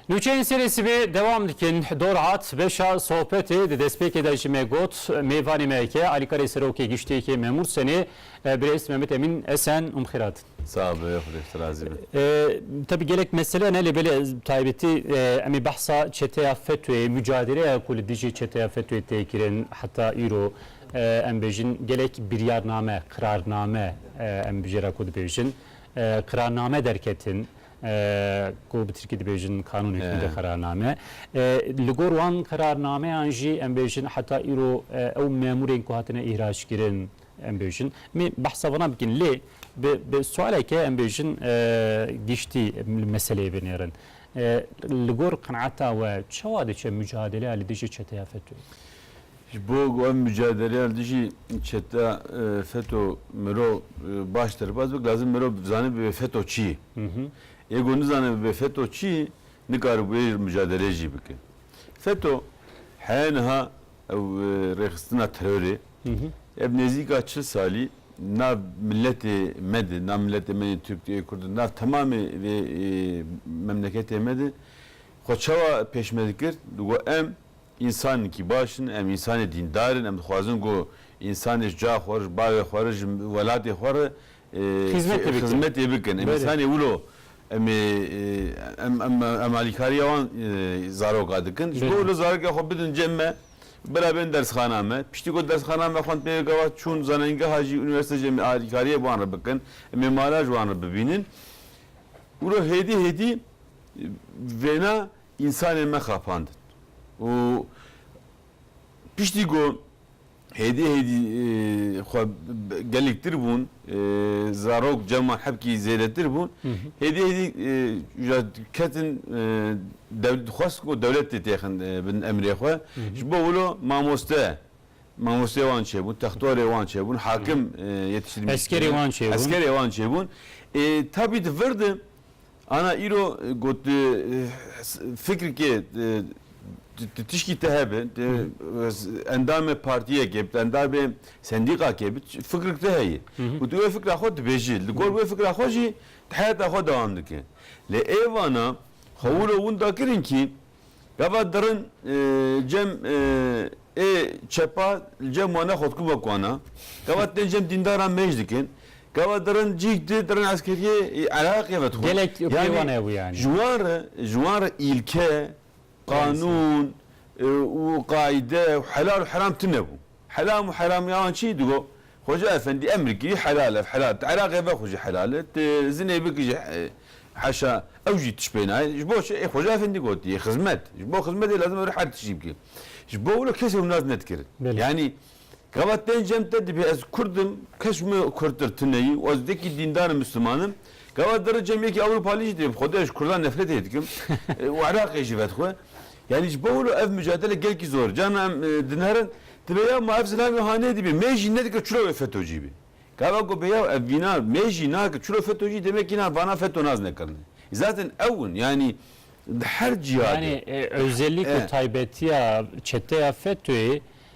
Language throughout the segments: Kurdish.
Nûçeyên serê sibê dewam dikin. Dor hat beşa sohbetê di destpêkê de ji me got mêvanê me ke alîkarê Serokê Giştiyekê Memûr Senê birêz Mehmet Emîn Esen û bixêr hatin. Sax be xwedê ji razî be. Tevî gelek mesele ne lê belê taybetî em ê behsa çeteya FETÖ'yê mucadeleya ku li dijî çeteya FETÖ'yê tê kirin heta îro em bêjin gelek biryarname, qirarname em bijêra ku dibêjin Qirarname derketin ku bi tirkî dibêjin kanûn hikûmete qirarname. Li gor wan qirarnameyan jî em bêjin heta îro ew memûrên ku hatine îhrackirin em bêjin em ê behsa vana bikin lê bi sualeke em bêjin giştî li meseleyê binêrin. Li gor qenata we çawa diçe mucadeleya li dijî çeteya FETÖ'yê? Ji bo ku em mucadeleya li dijî çete feto mirov baş derbas bik lazim mirov bizane bibe feto çi ye. Yê ku nizane bibe feto çi ye nikare ku ê mucadeleyê jî bike. Feto heye niha ew rêxistina terorê ev nêzîka çil salî nav miletê me de nav miletê me yên Tirk ê Kurd nav temamê vê memleketê me de xwe çawa pêşme dikir ku em Însanên kî baş in, em însanê dîndar in, em dixwazin ku însanê ji çaxa xwe re, ji bavê xwe re, ji welatê xwe re xizmetê bikin. Em însanê wilo em ê em alîkariya wan zaroka dikin. Ji bo wilo zarokê xwe bidin cem me, bira bên dersxana me. Piştî ku dersxana me xwend pê gava çûn zanengeha jî, unîversîte jî em ê alîkariyê bi wan re bikin. Em ê mala ji wan re bibînin. Wilo hêdî hêdî vêna Însanên me xapandin û piştî ku hêdî hêdî xwe gelek tir bûn, zarok, ceman hebkî zêdetir bûn, hêdî hêdî ja ketin dixwest ku dewlet tê têxin bin emrê xwe. Ji bo wilo mamoste, mamosteyê wan çêbûn, textorê wan çêbûn, hakim yetiştirmî, eskerê wan çêbûn. Eskerê wan çêbûn. Ê tabî di vir de Ana îro ku tu fikirkê tu tişkî te hebe, tu endamê partiyekê bî, tu endamê sendîqakê bî, fikirk te heye û tu wê fikra xwe dibêjî. Li gor wê fikra xwe jî tu heyata xwe dewam dikî. Lê êvana xwe wilo winda kirin kî Gava dirin cem ê çepa li cem wane xwe dikuma kuana. Gava tên cem dîndaran mêj dikin. Gava dirin cî di dirin eskeriyê Iraqê ve dixwin. Gelek pê wan hebû yanî. Ji wan re ji wan re îlke, qanûn û qaîde û helal û heram tune bû. Helam û heramî awan çi? Di got, Xweca efendî em bikî helal ev helal e. Ti Iraqê ve xwe jî helal e, ti zinê bikî jî heşa ew jî tişt pê nayê. Ji bo çi? Ê xweca efendî gotiye xizmet. Ji bo xizmetê lazim e were her tiştî bikî. Ji bo wilo kes ew nas nedikirin. Yanî gava tên cem te dibê ez kurd im, kes ji min kurdtir tune yî û ez yekî dîndar im misliman im. Gava di ri cem yekî ewropalî jî dibê bi xwe de ez ji kurdan nefretê dikim û Iraqê jî vedixwe. Yanî ji bo wilo ev mucadele gelkî zor, carna em dinerin, dibe ya ma ev zilam ê hanê dibî, mê jî nedikir çilo wê FETÖ'cî bê. Gava ku be ya ev vîna mê jî nakir çilo FETÖ'cî demekî na vana FETÖ nas nekirine. Zaten ew in yanî di her cîha de. Yanî ozellîk û taybetiya çeteya FETÖ'yê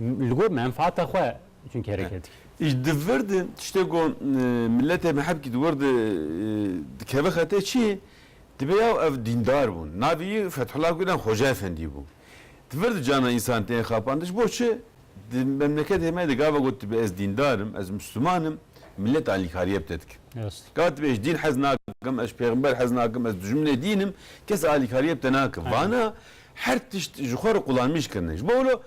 Li gor menfaata xwe çunke rêkê dike. Îş di vir de tiştê ku miletê me hebkî di wir de dikeve xetê çi ye? Dibe ya ev dîndar bûn. Navê wî Fethullah Gulen Xoca Efendî bû. Di vir de cana însan tên xapandin. Ji bo çi? Di memleketê me de gava got dibe ez dîndar im, ez misliman im, milet alîkariyê bi te dike. Gava dibe ji dîn hez nakim, ez ji pêxember hez nakim, ez dijminê dîn im, kes alîkariyê bi te nake. Vana Her tişt ji xwe re qulamîş kirine. Ji bo wilo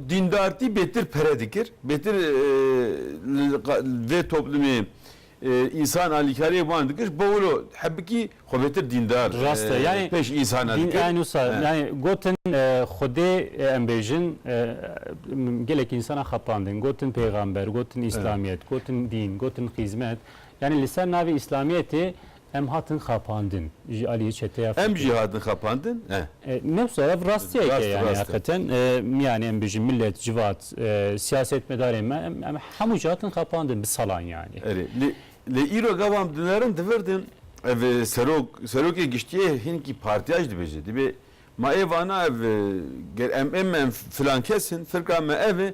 dîndartî bêtir pere dikir, bêtir li vê toplumê însan alîkariyek wan dikir, ji bo wilo hebikî xwe bêtir dîndar pêş însanan dikir. Rast e. Yanî wisa yanî gotin Xwedê em bêjin gelek însanan xapandin. Gotin pêxamber, gotin îslamiyet, gotin dîn, gotin xîzmet. Yanî li ser navê îslamiyetê Em hatin xapandin ji aliyê çeteya FETÖ. Em jî hatin xapandin, eh. Ne wisa ev rastiyeke ye yani heqeten yani em bijîm millet, civat, siyasetmedarên me em hemû jî hatin xapandin bi salan yani. Erê lê îro gava em dinerin divirdin ev serok serokê giştiyê hinkî partiya jî dibêje dibê ma ê vana ev ger em êm em filan kes in firka me ev e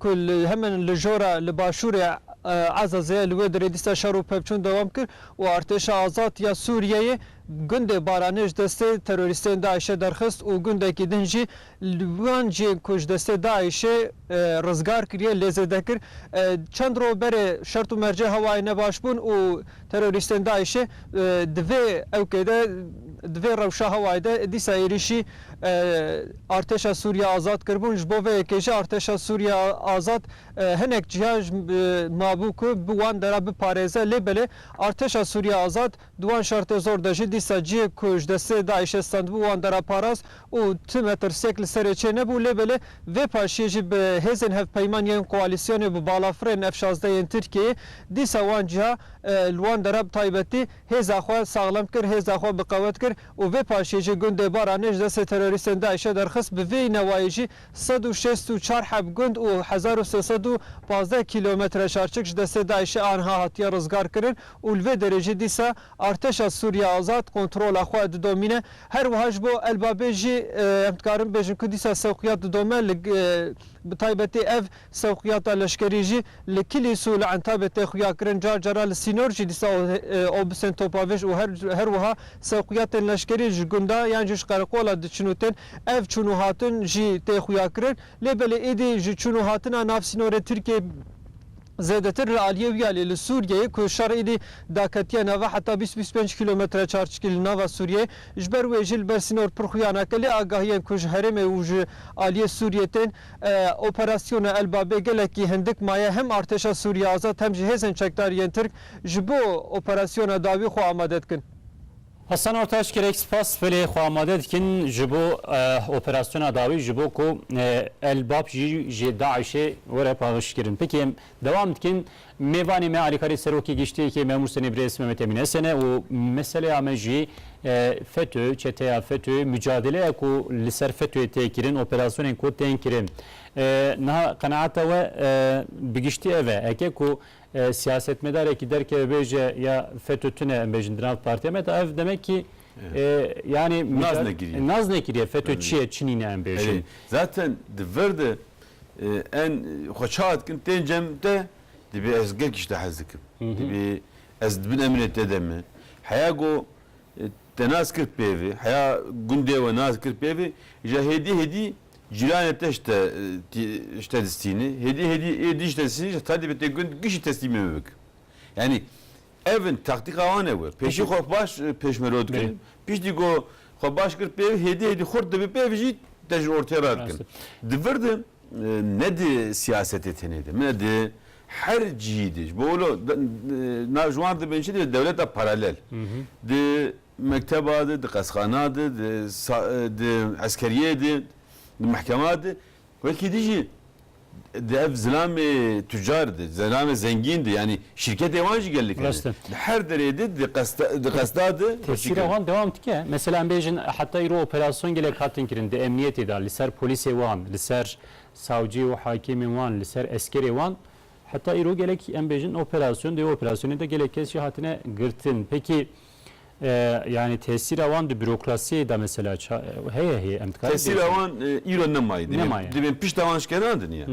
ku li heman li jora li başûrê Ezezê ye li wê derê dîsa şer û pevçûn dewam kir û Artêşa Azad ya Sûriyeyê gundê Baranê ji destê terorîstên DAIŞ'ê derxist û gundekî din jî li wan cihên ku ji destê DAIŞ'ê rizgar kiriye lê zêde kir. Çend roj berê şert û mercê hewayê ne baş bûn û Terorîstên DAIŞ'ê di vê ewkê de, di vê rewşa hewayê de dîsa êrîşî Artêşa Sûriya Azad kiribûn. Ji bo vê yekê jî Artêşa Sûriya Azad hinek cîya mabû ku bi wan de re biparêze. Lê belê Artêşa Sûriya Azad di wan şertê zor de jî dîsa cîyê ku ji destê DAIŞ'ê stendibû wan de re parast. û tu me tirsek li serê çê nebû lê belê vê paşiyê jî bi hêzên hevpeyman yên koalîsyonê bi balafirên F şazdeh yên Tirkiyeyê dîsa wan cîha li wan dera bi taybetî hêza xwe saxlem kir hêza xwe bi qewet kir û vê paşiyê jî gundê Baranê ji destê terorîstên DAIŞ e derxist bi vê newayê jî sed û şêst û çar heb gund û hezar û sê sed û pazdeh kîlometre çarçik ji destê DAIŞ e anha hatiye rizgar kirin û li vê derê jî dîsa Artêşa Sûriya Azad kontrola xwe didomîne. Her wiha ji bo El Babê jî em dikarin bêjin ku dîsa sewqiyat didome. Li bi taybetî ev sewqiyata leşkerî jî li Kilîs û li Entabê tê xuyakirin. Car caran li sînor jî dîsa obusên topavêj û her her wiha sewqiyatên leşkerî ji gunda yan jî ji qereqola diçin û tên. Ev çûn û hatin jî tê xuyakirin. Lê belê êdî ji çûn û hatina nav sînorê Tirkiyeyê, Zêdetir li aliyê wî ya lê li Sûriyeyê ku şer êdî daketiye nava heta bîst bîst pênc kîlometre çarçikî li nava Sûriyeyê, ji ber wê jî li ber sînor pir xuya nake. Lê agahiyên ku ji herêmê û ji aliyê Sûriyê tên, operasyona El Babê gelekî hindik maye. Hem Artêşa Sûriya Azad hem jî hêzên çekdarî yên Tirk ji bo operasyona dawî xwe amade dikin. Hasan Ortaç, Gelek spas filê xwe amade dikin ji bo operasyona dawî ji bo ku El Bab jî ji DAIŞ'ê were pavişkirin. Peki em dewam dikin. Mêvanê me alîkarê Serokê Giştiyekê Memûr Senê Birêz Mehmet Emîn Esen e û meseleya me jî FETÖ, çeteya FETÖ, mucadeleya ku li ser FETÖ'yê tê kirin, operasyonên ku tên kirin. Niha qenaeta we bi giştî ev e. Eke ku Siyasetmedarekî derkeve bêje ya feto tune em bêjin di nav partiya me de ev demekî yanî nas nekiriye feto çi ye çi nîne em bêjin. Zaten di vir de en xwe çawa dikin tên cem te dibê ez gelkî ji te hez dikim dibê ez di bin emrê te de me heya ku te nas kir pêvê heya gundê we nas kir pêvê îja hêdî hêdî Cîranê te ji te ji te distîne, hêdî hêdî ê dî ji te distîne ji xedî bi tê gund gişî teslîmê min bike. Yanî ev in taktîka wan e we. Pêşî xwe baş pêşmerwe dikin, piştî ku xwe baş kir pêv hêdî hêdî xurt dibe pêv jî te ji ortê re dikin. Di vir de ne di siyasetê tenê de min e di her cihî de ji bo wilo na ji wan dibin çi dibin dewleta paralel. Di mekteba de, di qesxana de, di di eskeriyê de, di mehkema de wekî din jî di ev zilamê tucar de, zilamê zengîn de yanî şîrketê wan jî gelek hene. Rast e. Di her derê de di qesda di qesda de wekî Tesîra kirin. wan dewam dike. Mesela em bêjin heta îro operasyon gelek hatin kirin di emniyetê de li ser polîsê wan, li ser savcî û hakimên wan, li ser eskerê wan. Heta îro gelek em bêjin operasyon di wê operasyonê de gelek kes jî hatine girtin. Peki Yani tesîra wan di bürokrasiyê de mesela heye heye em dikarî Tesîra wan îro nemaye divê divê pişta wan şkenandin ya.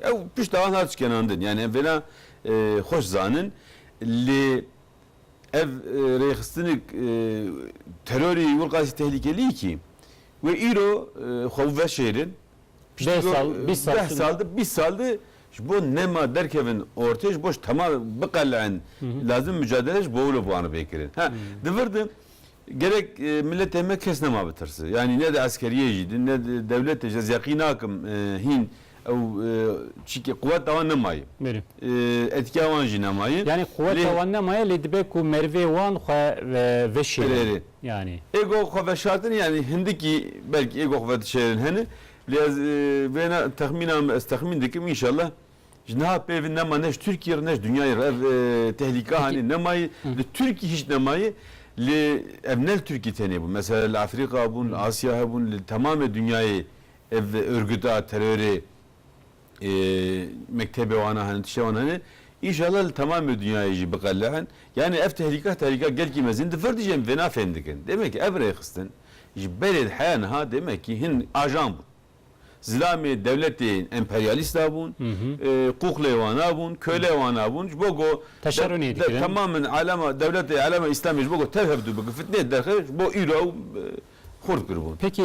Ew pişta wan hat şkenandin yani em vêna xweş zanin lê ev rêxistinik terorî wir qasî tehlîkeliyî kî wê îro xwe veşêrin Piştî Deh sal, vê bîst sal deh çi sal di, bîst sal di ji bo nema derkevin ortê, ji bo ji tema biqele'in lazim mucadele ji bo wilo bi wan re bê kirin. Ha, di vir de gerek miletê me kes nema bitirse. Yanî ne di eskeriyê jî di, ne di dewletê jî ez yeqîn nakim hîn ew çîkê quweta wan nemaye. Berê. Etîkeya wan jî nemaye. Yanî quweta Lê wan nemaye lê dibe ku merivê wan xwe veşêrin. Erê, erê. yanî. Ego xwe veşartin yanî hindikî belkî ego xwe vedişêrin hene lê ez wêna texmîna min ez texmîn dikim înşallah ji niha pêvin nema ne ji Tirkiyê re ne ji dinyayê re ev tehlîka hanê nemayê li Tirkî hîç nemayê lê ev ne li Tirkî tenê bû mesela li Efrîka bûn li Asya hebûn li temamê dinyayê ev ûrgita terorê Mektebê wan a hene, tiştê wan hene. Înşallah li temamê dinyayê jî biqele'in. Yanî ev tehlîka tehlîka gelkî mezin di vir dijên vêna fêm dikin. Demekî ev rêxistin ji berê di heya niha demekî hin ajan bûn. Zilamê dewletên emperyalîst a bûn, quqlê wan a bûn, kölê wan a bûn. Ji bo ku temamên alema dewletê alema îslamê ji bo ku tev hevdû bikin, fitneyê derxist ji bo îro ew xurt kiribûn. Peki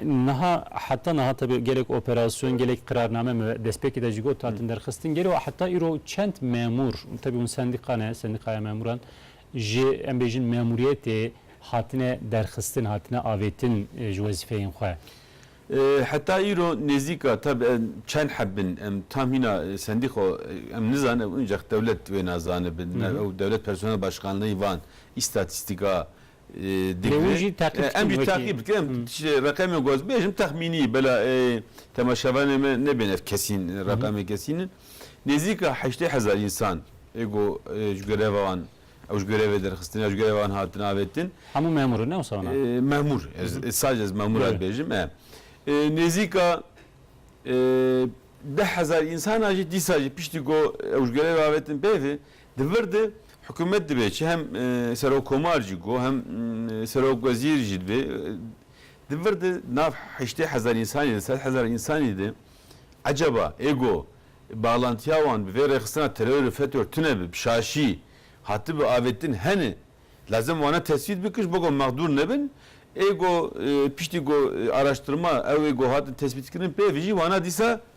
niha heta niha tabi gelek operasyon gelek qirarname me destpêkê de jî got hatin derxistin gelo heta îro çend memûr tabi hûn sendîka ne sendîkaya memûran ji em bêjin memûriyetê hatine derxistin hatine avêtin ji wezîfeyên xwe? Heta îro nêzîka tabi em çend heb bin em tam hîna sendîka em nizanin ew incax dewlet wêna zanibin ew dewlet personel başkanleyî van îstatîstîka Lê wî jî teqîb dikin wekî. Em jî teqîb dikin. Em reqemên ku ez bêjim texmînî bela temaşevanê me nebên ev kesîn reqemên kesîn in. Nêzîka heştê hezar însan ê ku ji greva wan ew ji grevê derxistin ya ji greva wan hatin avêtin. Hemû memûr in ne wisa wan e? Memûr. Sadece ez memûr a dibêjim e. Nêzîka deh hezar însan a jî dîsa jî piştî ku ew ji grevê avêtin peyvê Di vir de hikûmet dibe çi hem serokkomar jî go hem serokwezîr jî dibe. Di vir de nav heştê hezar însanî de sed hezar însanî de ecaba ê go baxlantiya wan bi vê rêxistina terorê fetor tune bi şaşî hatibe avêtin hene. Lazim wana tesbît bikin ji bo go mexdûr nebin. Ê go piştî go araştirma ew ê go hatin tesbîtkirin pê vijî wana dîsa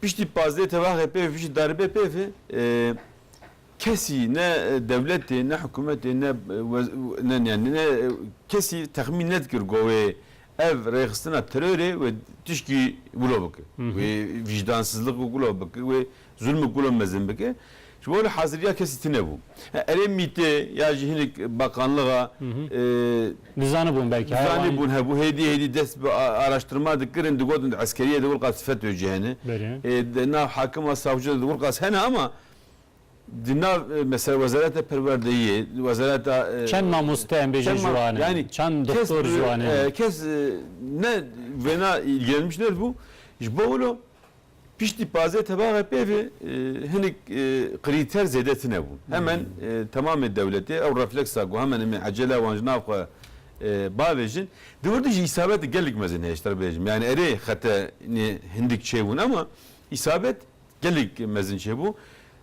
Piştî pazdeh tevahê peyv û piştî darbe peyvê kesî ne dewletê ne hikûmetê ne ne yanî ne kesî texmîn nedikir ku wê ev rêxistina terorê wê tişkî wilo bike, wê vîjdansizlik û wilo bike, wê zulm û wilo mezin bike. Ji bo li hazirîya kesî tune bû. Erê mîtê ya jî hinek bakanlixa Dizanibûn belkî haya wan. Dizanibûn hebû. Hêdî hêdî dest bi araştirma dikirin, digotin di eskerîyê de wirqas FETÖ jî hene. Berê. Di nav hakima savcî de wirqas hene ama di nav mesela wezareta perwerdeyîyê, wezareta. Çend mamoste em bêjin ji wan e? Çend doktor ji wan hene? Kes ne wêna îlgilenmiş nedibû. Ji bo wilo Piştî pazdeh tebaxe pêvê hinek krîter zêde tine bûn. Hemen temamê dewletê ew refleksa ku hemen em ê ecele wan ji nav xwe bavêjin. Di wir de jî îsabet gelek mezin heye ji te re bêjim. Yanî erê xete nê hindik çêbûn ema îsabet gelek mezin çêbû.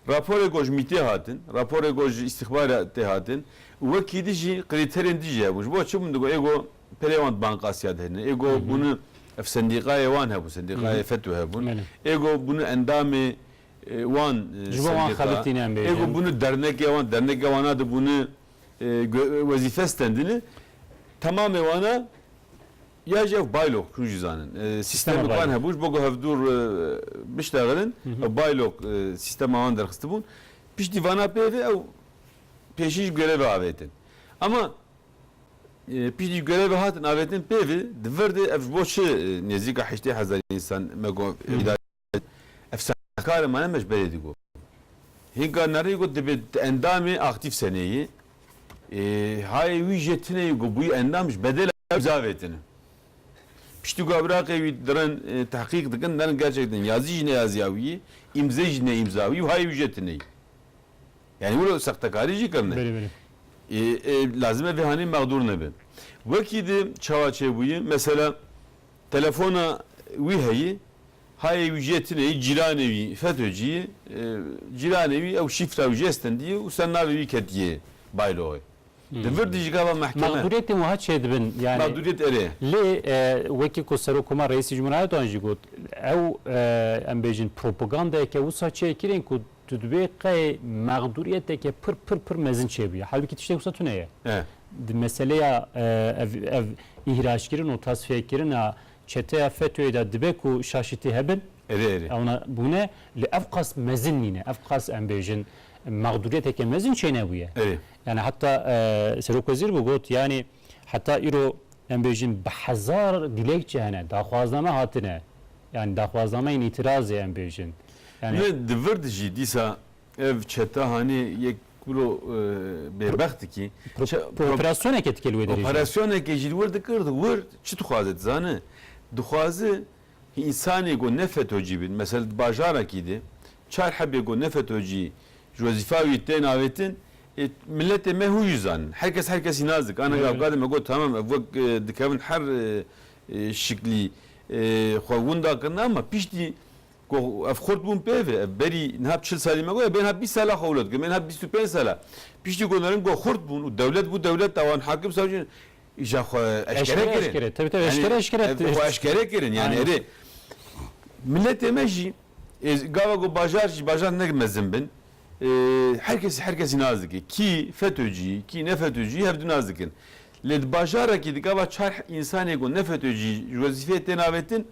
Raporê ku ji mîtê hatin, raporê ku ji îstîxbaratê hatin û wekî di jî krîterên di jî hebûn. Ji bo çi bûn digot ê ku Pêrê wan di Banka Asya de hene. Ê go bûne ev sendîkayê wan hebû, sendîkayê FETU hebûn. Ê go bûne endamê wan sendîka. Ê go bûne dernekê wan, derneke wana de bûne wezîfe stendine. Temamê wana ya jî ev baylok hûn jî zanin. Sîstemeke wan hebû ji bo ku hevdûr bişlexirin ew baylok sîstema wan derxistibûn. Piştî vana pê ve ew pêşî ji grevê avêtin. Ema Piştî grevê hatin avêtin pêvî di vir de ev ji bo çi nêzîka heştê hezar însan me got îdare bikin. Ev saxtekarên me ne me ji berê digot. Hîn Garnarî got dibê tu endamê aktîf seneyî. Hayê wî jê tuneyî ku bûyî endam ji bedêla wî za avêtine. Piştî ku abraqê wî dirin tehqîq dikin derin gerçek din yazî ji neyaziya wî yî, îmze jî ne îmza wî û hayê wî jê tuneyî. Yanî wilo sextekarî jî kevn e. Lazim e vê hanî mexdûr nebe. Wekî di çawa çêbûye mesela telefona wî heye, hayê wî jê tune yî, cîranê wî FETÖ'cî yê, cîranê wî ew şîfra wî jê stendiye û ser navê wî ketiye bayloxê. Di vir de jî gava mehkeme. Mexdûriyetên wiha çêdibin yanî. Mexdûriyet erê ye. Lê wekî ku Serokkomar Reîsî Cumhuriyet Erdogan jî got ew em bêjin propagandayeke wisa çêkirên ku Tu divê qey mexdûriyeteke pir pir pir mezin çêbûye. Halbikî tiştê wisa tune ye. Di meseleya ev ev îhraçkirin û tasfiyekirina çeteya FETÖ'yê de dibe ku şaşitî hebin. Erê erê. Ewna bûne lê ev qas mezin nîne. Ev qas em bêjin mexdûriyeteke mezin çênebûye. Erê. Yanî heta Serokwezîr bû got yanî. Heta îro em bêjin bi hezar dilekçe hene, daxwazname hatine, yanî daxwaznameyên îtîrazê em bêjin. Yanî Ne di vir de jî dîsa ev çete hanê yek biro bêbext dikî. Operasyoneke dike li wê derê jî. Operasyoneke jî li wir dikir, wir çi dixwaze dizane? Dixwaze Însanê ku ne FETÖ'cî bîn, mesel di bajarekî de çar hebê ku ne FETÖ'cî ji wezîfa wî tên avêtin, miletê me hû jî zanin. Her kes her kesî nas dike. Anega kadê me got tamam ev wek dikevin her şiklî xwe winda kirine ama piştî ku ev xurt bûn pêve, ev berî niha çil salî me got, ev bê niha bîst sala xwe wilo dikin, bê niha bîst û pênc sala. Piştî ku nirm ku xurt bûn û dewlet bû dewleta wan, hakim savcî, Îşa xwe eşkere kirin. Tabii tabii eşkere eşkere. Ev xwe eşkere kirin. Yani erê milletê me jî gava ku bajar jî bajar ne mezin bin her kesî her kesî nas dike. Kî FETÖ'cî kî ne FETÖ'cî hev du nas dikin. Lê di bajarekî di gava çar însanê ku ne FETÖ'cî ji wezîfeyê tên avêtin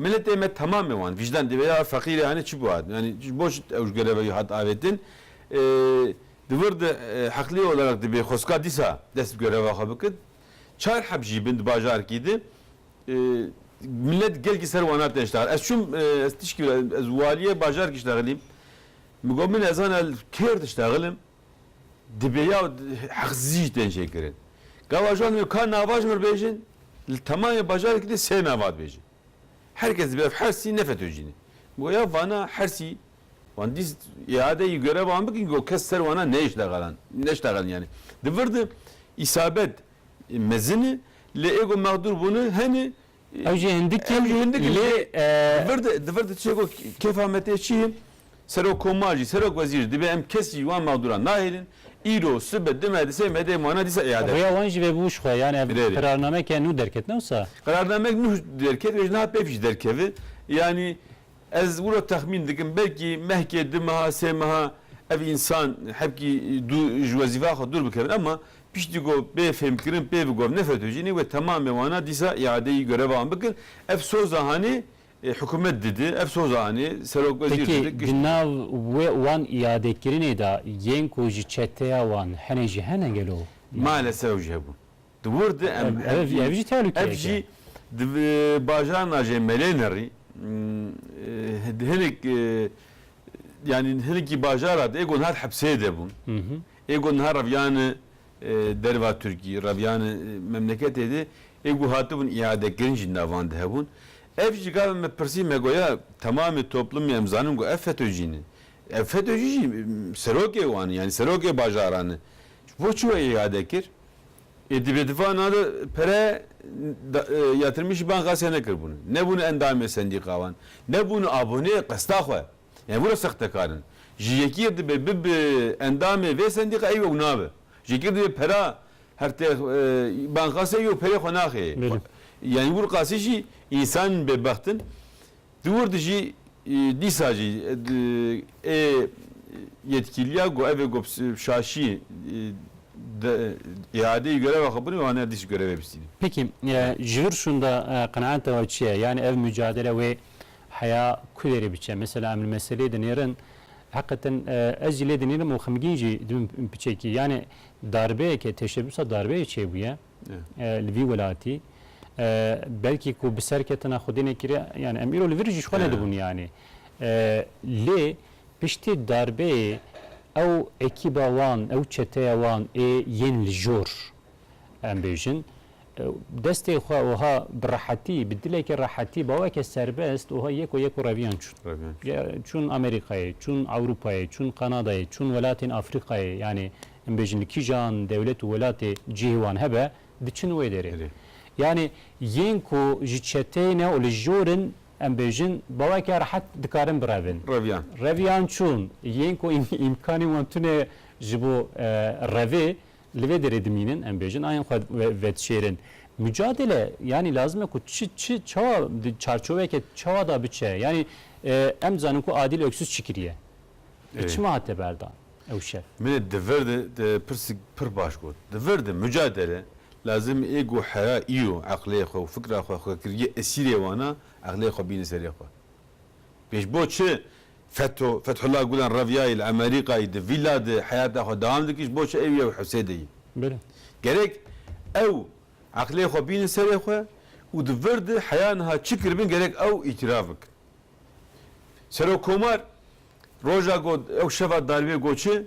milletê me temamê wan vîjdan dê be ya feqîrê anî çi ku hat. Yani ji bo çi ew ji gereveyî hat avêtin. Di vir de heqlî olarak dibê xwestka dîsa dest bi greva xwe bikin. Çar heb jî bin di bajarkî de milet gelkî ser wan hat neştehan. Ez çûm ez tişkî bila ez walîyê bajarkî ştexilîm. Min got min nezana li kêr diştexilm dibê ya heqsizî jî tên çêkirin. Ga vajayan dibê ka nava ji min re bêjin li temamê bajarkî de sê nava dibêjin. Her kes dibê ev hersî ne fetocî ne. Min got ya vana hersî Wan dîst îade yî görev wan bikin ku kes ser wana neyştexilan, neştexilin yanî. Di vir de îsabet mezin e lê ê ku mexdûr bûne hene. Ew jî hindik in lê. Di vir de, di vir de çê ku kefa me tê çi ye? Serokkomar jî, serokwezîr jî dibe em kesî ji wan mexdûran nahêlin. Îro, sibe, dime, di sê me dê em wana dîsa îade bikin. Rêya wan jî vê bi wişxwe ye. Yanî ev qirarnameke nû derket ne wisa? Qirarnameke nû derket, wê ji niha pêv jî derkeve. Yanî Ez wilo texmîn dikim belkî mehkê du meha sê meha ev însan hebkî dû ji wezîfeya xwe dûr bikevin ema piştî ku bê fêmkirin pê bi govne fetojînê wê temamê wana dîsa îadeyî göreva wan bikin. Ev soza hanê hikûmet didi, ev soza hanê serokwezîr Peki didi, di kiştî. nav wê wan îadekirinê de yên ku ji çeteya wan hene jî hene gelo? Maalesef ew jî hebûn. Di wir de em ev jî tehlûkeyek e. Ev jî di bajara nacê Melênerî di hinek yanî hinekî bajara de ê ku niha di hepsê de bûn, ê ku niha reviyane derva Tirkiyê, reviyane memleketê de, ê ku hatibûn îadekirin jî navan de hebûn. Ev jî gava me pirsî me got ya temamê toplumê em zanin ku ev FETÖ'cî ne. Ev FETÖ'cî jî serokê wan e, yanî serokê bajaran e. Ji bo çi we îade kir? Yê di bêtifanan de pere ya tirmîşî ban xasîya nekiribûn, nebûn endamê sendîkawan, nebûn aboneyê qesta xwe. Em wilo sextekar in. Ji yekî re dibe bibe endamê vê sendîka ew ew nabe. Ji yekî re dibe pera her tê ban xasîya ew perê xwe naxê. Yanî wir qasî jî însan bêbext in. Di wir de jî dîsa jî ê yetkîliya ku ev ê ku şaşî îadeyî gereva xwe bine wan erdî jî gerevê bistîne. Peki ji vir şunda qenaeta we çi ye? Yanî ev mucadele wê heya ku derê biçe? Mesela em li meselê dinêrin heqeten ez jî lê dinêrim û xemgîn jî dibim piçekî. Yanî darbeyeke teşebbûsa darbeyê çêbûye. li vî welatî belkî ku bi ser ketina xwedê nekiriye yanî em îro li vir jî ji xwe nedibûn yanî lê piştî darbeyê ew ekîba wan ew çeteya wan ê yên li jor em bêjin destê xwe wiha bi rehetî bi dilekî rehetî baweke serbest wiha yek û yek û reviyan çûn çûn Amerîkayê çûn Ewrûpayê çûn Kanadayê çûn welatên Afrîkayê yanî Em bêjin li kîjan dewlet û welatê cihê wan hebe diçin wê derê. Yanî yên ku ji çeteyê ne û li jor in em bêjin baweke rehet dikarin birevin. Reviyan. Reviyan çûn. Yên ku îmkanên wan tune ji bo revê li vê derê dimînin em bêjin ayên xwe vedişêrin. Mucadele yanî lazim e ku çi çi çawa di çarçoveke çawa de biçe. Yanî em dizanin ku Adîl Oksûz çi kiriye? Çima hate berdan? ew şev. Min ê di vir de te pirsik pir baş got. Di vir de, mucadele, lazim ê ku hera îro eqlê xwe û fikra xwe xwekiriyê esîrê wan a, eqlê xwe bîne serê xwe. Pêş bo çi Fetho, Fethullah Gulen reviyayî li Emerîkayî di vîla de heyata xwe dewam dikir ji bo çi ew yew Husê de yî. Belê. Gerek ew eqlê xwe bîne serê xwe û di vir de heya niha çi kiribin gerek ew îtîraf bikin. Serokkomar Roja ku ew şeva darîbê got çi?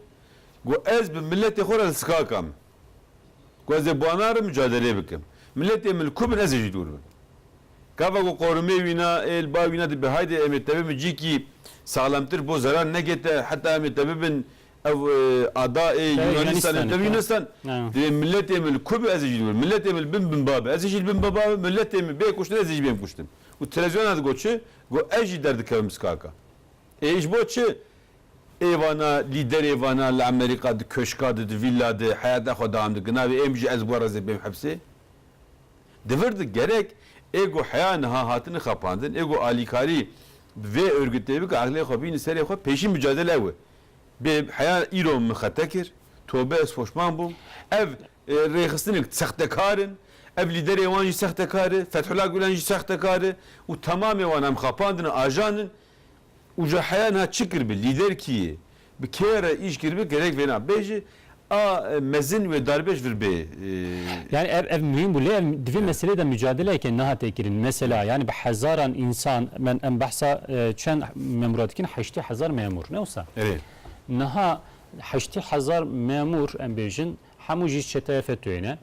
Got ez bi miletê xwe re li skak am. Got ez ê ba narim micadelê bikim. Miletê min li ku bin ez ê jî dûr bim. Gava ku qorumê wîna ê li ba wîna dibe haydê em ê tevibin cîkî saxlemtir bo zeran negete heta em ê tevibin ev ada ê Yûnanistan ê tevî Yûnanistan. Divê miletê min li ku be ez ê jî dûr bim. Miletê min li bin bin ba be ez ê jî li bin bin ba bim. Miletê min bê kuştin ez ê jî bêm kuştin. Û televizyona digot çi? Got ez jî derdikevim bi skaka. Ê ji bo çi? Ê vana lîderê vana li Amerîka di koşka di, di vîlla di heyata xwe dewam dike. Navê ên bijî ez guherre zê bêm hepsê. Di vir di gerek ê ku heya niha hatine xapandin, ê ku alîkarî bi vê örgitê bike eqlê xwe bîne serê xwe, pêşîn micadele ew e. Bê heya îro min xete kir, tobe ez poşman bûm. Ev Rêxistinek sextekar in, ev lîderê wan jî sextekar e, Fethullah Gulen jî sextekar e û temamê wan em xapandine, ajan in û ji heya niha çi kiribe, lîder kî ye, bi kê re îş kiribe gerek vêna bêje, a mezin wê darbêj vir bê. Yanî ev ev muhîm bû lê ev di vê meseleyê de mucadeleyeke nehate kirin. Mesela yanî bi hezaran însan em behsa çend memûra dikin heştê hezar memûr ne wisa? Niha Heştê hezar memûr em bêjin hemû jî çeteya FETÖ'yê ne.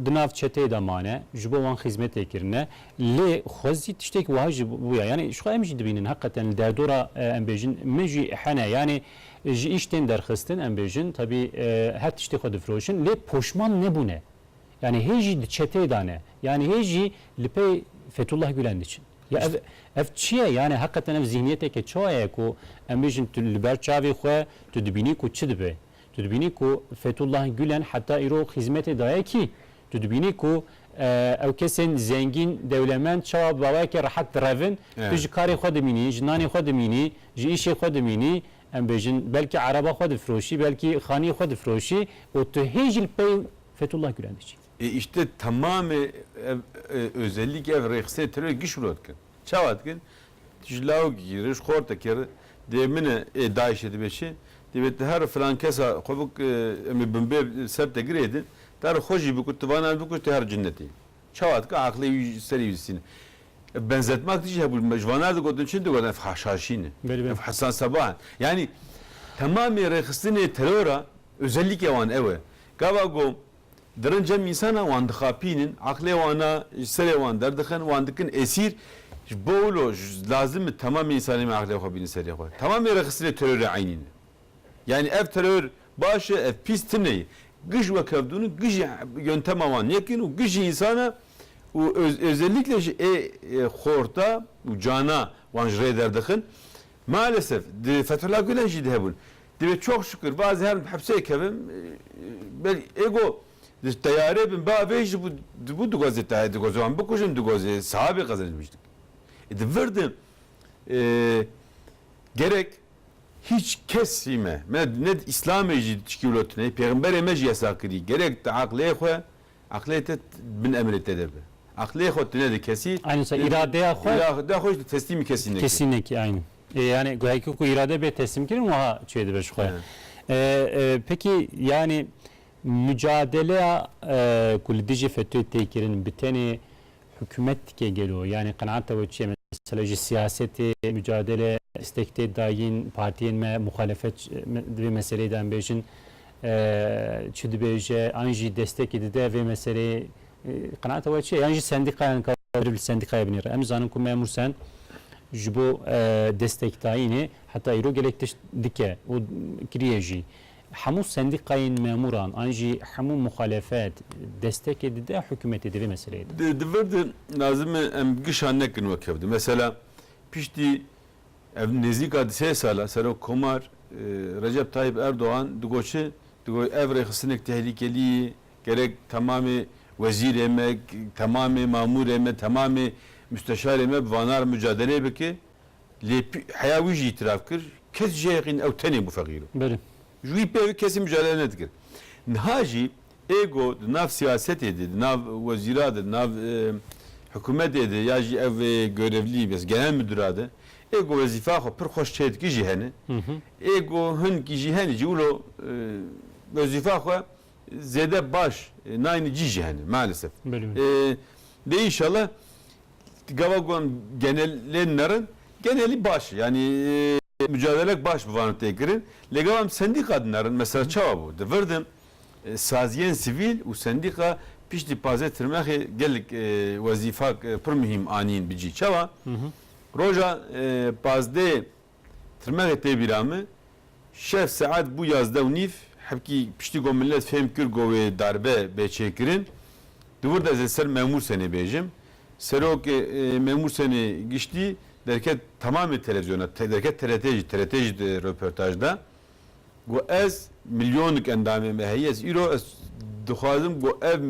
Di nav çeteyê de mane, ji bo wan xîzmetê kirine. Lê xwezî tiştekî wiha jî bûye. Yanî jixwe em jî dibînin heqeten li derdora em bêjin min jî hene yanî ji îş tên derxistin em bêjin tevî her tiştê xwe difiroşin lê poşman nebûne. Yanî hê jî di çeteyê de ne. Yanî hê jî li pey Fethullah Gulen diçin. Ya ev ev çi ye? Yanî heqeten ev zîhniyeteke çawa ye ku em bêjin tu li ber çavê xwe tu dibînî ku çi dibe? Tu dibînî ku Fethullah Gulen heta îro xîzmetê daye kî? Tu dibînî ku ew kesên zengîn, dewlemend çawa bi bawayekî rehet direvin? Tu ji karê xwe dimînî, ji nanê xwe dimînî, ji îşê xwe dimînî, Em bêjin belkî eraba xwe difiroşî, belkî xaniyê xwe difiroşî û tu hê jî li pey Fethullah Gulen diçî. Ê îşte temamê ev özelîk, ev rêxistinê terorê giş wilo dikin. Çawa dikin? Tu ji lawikî re, ji xortekê re dê min e, ê DAIŞ'ê dibe çi? Divê tu her filan kesa xwe bik em ê binbê ser te girê din, tu her xwe jî bikut, tu va navê bikut tu her cinnetê yî. Çawa dike aqilê wî ji serî wîstîne. Benzetmak dijî hebû me ji vanar digotin çi digotin ev haşhaşîn in. Ev Hesan Sebah in. Yanî temamê rêxistinê terora ozellîkê wan ew e. Gava ku di rind cem însanan wan dixapînin, aqilê wana ji serê wan derdixin, wan dikin esîr. Ji bo wilo lazim e temamê însanê me aqilê xwe bînin serê xwe. Temamê rêxistinê terorê eynî ne. Yanî ev teror baş e, ev pîs tune ye. Gij wek hev dûn in, gij yontema wan yek in û gij însan e û özellikle jî ê xorta û cana wan ji rê derdixin. Malesef di Fethullah Gulen jî de hebûn. Divê çok şukir va ez herim di hepsê kevim. Belê ê go di teyarê bin ba vê jî dibû dixwazê tayê dixwazê wan bikujin, dixwazê sihabê qezenc biçin. Di vir de gerek Hîç kesî me, me ne di îslamê jî dişkîwlot neyê, pêxemberê me jî yesa kirî. Gerek tu eqlê xwe, eqlê te di bin emrê te de be. Eqlê xwe tu nede kesî, Aynen tu îradeya xwe îradeya xwe jî tu teslîmî kesî neke. Kesî nekî aynen. Ê yanî heke ku îrade bê teslîmkirin wiha çê dibe ji xwe. Peki yanî mucadeleya ku li dijî FETÖ'yê tê kirin bi tenê Hikûmet dike gelo? Yanî qenaeta we çi ye? Mesela ji siyasetê, mucadele, destek tê dayîn partiyên me, muxalefet di vê meseleyê de em bêjin çi dibêje an jî destekê dide vê meseleyê qenaeta we çi ye? Yan jî sendîkayan ka meriv li sendîkayê binêre? Em dizanin ku Memûr Sen ji bo destekdayînê heta îro gelek tişt dike û kiriye jî. Hemû sendîkayên memûran an jî hemû muxalefet destekê dide hikûmetê di vê meseleyê de. Di vir de lazim e em gişa nekin wek hev de. Mesela piştî ev nêzîka di sê sala Serokkomar Recep Tayyîp Erdogan digoçi di got ev rêxistinek tehlîkelî ye, gerek temamê wezîrê me, temamê mamûrê me, temamê musteşarê me bi vanar mucadelê bike. Lê heya wî jî îtîraf kir, kes ji yayê qîn ew tenê bû feqîr o. Belê. Ji wî pê wê kesî mijare nedikir. Niha jî êgo di nav siyasetê de, di nav wezîra de, di nav hikûmetê de ya jî ev gorevlî bes genel mudira de êgo wezîfa xwe pir xweş çê dike jî hene. Êgo hinkî jî hene jî wilo wezîfa xwe zêde baş nayne cî jî hene maalesef. Belê belê. Dê înşallah Gava gon genelên me rin genelî baş e. Yanî mucadelek baş bi van tê kirin. Lê gava em sendîka din erin. Mesela çawa bû? Di vir din saziyên sivîl û sendîka piştî pazê tirmexê gelek wezîfak pir muhîm anîn bi cî. Çawa? Roja pazdeh Tirmexê tê bîra min, şev saet bû yazdeh û nîv, hebkî piştî ku milet fêm kir ku wê darbe bê çêkirin, di wir de ez li ser Memûr Senê bêjim. Serok Memûr Senê giştî derket temamê televîzyona, derket TRT'ê jî, TRT jî di röportaj de got, Ez milyonik endamê me heye, ez îro ez dixwazim ku ev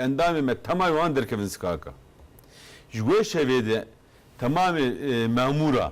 endamê me temamê wan derkevin skaka. Ji wê şevê de temamê memûra,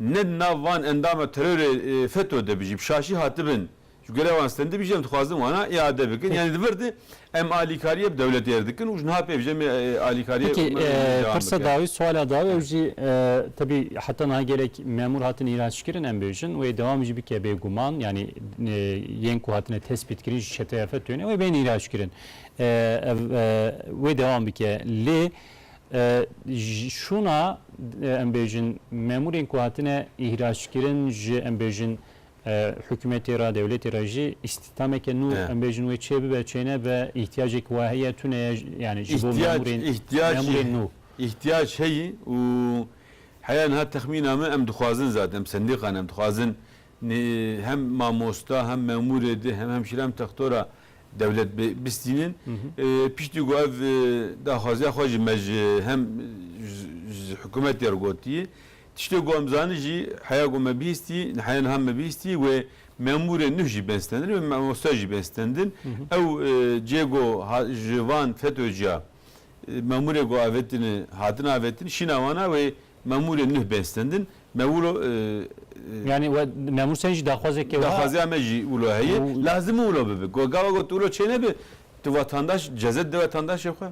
Ne di nav van endama terorê FETÖ de bi jî bi şaşî hatibin ji gurê wan stendibî jî em dixwazin wana îade bikin. Yanî di vir de em alîkariyê bi dewletê re dikin û ji niha pê vijemê alîkariyê Peki me vê jî dewam pirsa bikin. dawî, suala dawî ew jî tebî heta niha gelek memûr hatin îhraçkirin em bêjin wê dewam jî bike bê guman yanî yên ku hatine tespîtkirin ji çeteya FETÖ ne wê bên îhraçkirin. Ev wê dewam bike lê Şûna em bêjin memûrên ku hatine îhraçkirin ji em bêjin hikûmetê re, dewletê re jî îstîhdameke nû em bêjin wê çê bibe, çê nebe îhtiyacek wa heye tune ye yanî ji bo memûrên memûrên nû. Îhtiyac heye û heya niha texmîna min em dixwazin zaten em sendîqan em dixwazin hem mamosta hem memûrê di hem hemşîre hem textora Dewlet bi bistînin. Piştî ku ev daxwaziya xwe jî me ji hem ji hikûmetê re gotiye. Tiştê ku em zanîn jî heya ku me bihîstî, heya niha me bihîstî wê memûrên nûh jî bên stendin, wê mamoste jî bên stendin. Ew cê ku ji van FETÖ'ciya memûrê ku avêtine, hatine avêtin, şîna wan a wê Memûrê nuh bên stendin. Me wilo. Yanî we memûr sen jî daxwazeke wiha. Daxwazeya me jî wilo heye. Lazim in wilo bibe. Ku gava got wilo çênebe tu vatandaş cezet de vatandaşê xwe.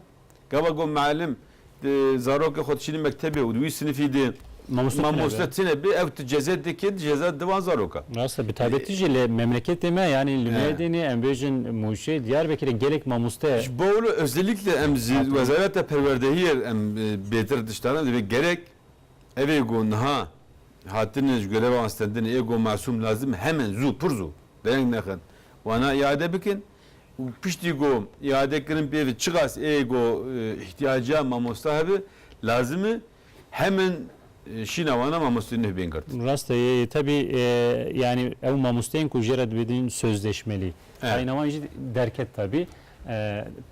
Gava got muellim tu zarokê xwe diçînî mektebê û di wî sinifî de mamoste tune be ew tu cezet de kê di cezet de van zarok a. Rast e. Bi taybetî jî li memleketê me yanî li Mêrdînê em bêjin Mûşê, Diyarbekirê gelek mamoste. Ji bo wilo özellikle em ji wezareta perwerdehiyê re em bêtir. Ji tane divê gerek ev ê ku niha hatine ji greva wan stendinê ê ku masûm lazim hemen zû pir zû bi reng nexin wana îade bikin û piştî ku îade kirin pêvî çiqas ê ku îhtîyaca mamosta hebe lazim e hemen şîna wana mamosteyî nuh bên girt. Rast e yê tevî yanî ew mamosteyên ku jê re dibêjin sözleşmelî tayîna wan jî derket tevî.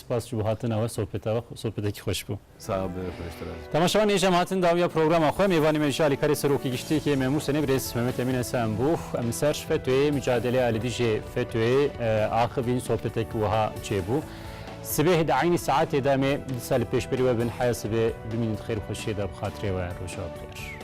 Spas ji bo hatina we sohbeta we sohbetekî xweş bû. Sax be xweştir ez. Temaşevan êj em hatin dawiya programa xwe. Mêvanê me ji alîkarê serokê giştî kê me Mûsenê birêz Mehmet Emîn Esen bû. Em li ser FETÖ'yê micadeleya li dijê FETÖ'yê axivîn sohbetek wiha çêbû. Sibêh di eynî saetê de em ê disa li pêşberî we bin heya sibê bimînin di xêr û xweşiyê de bi xatirê we. Roja bi xêr.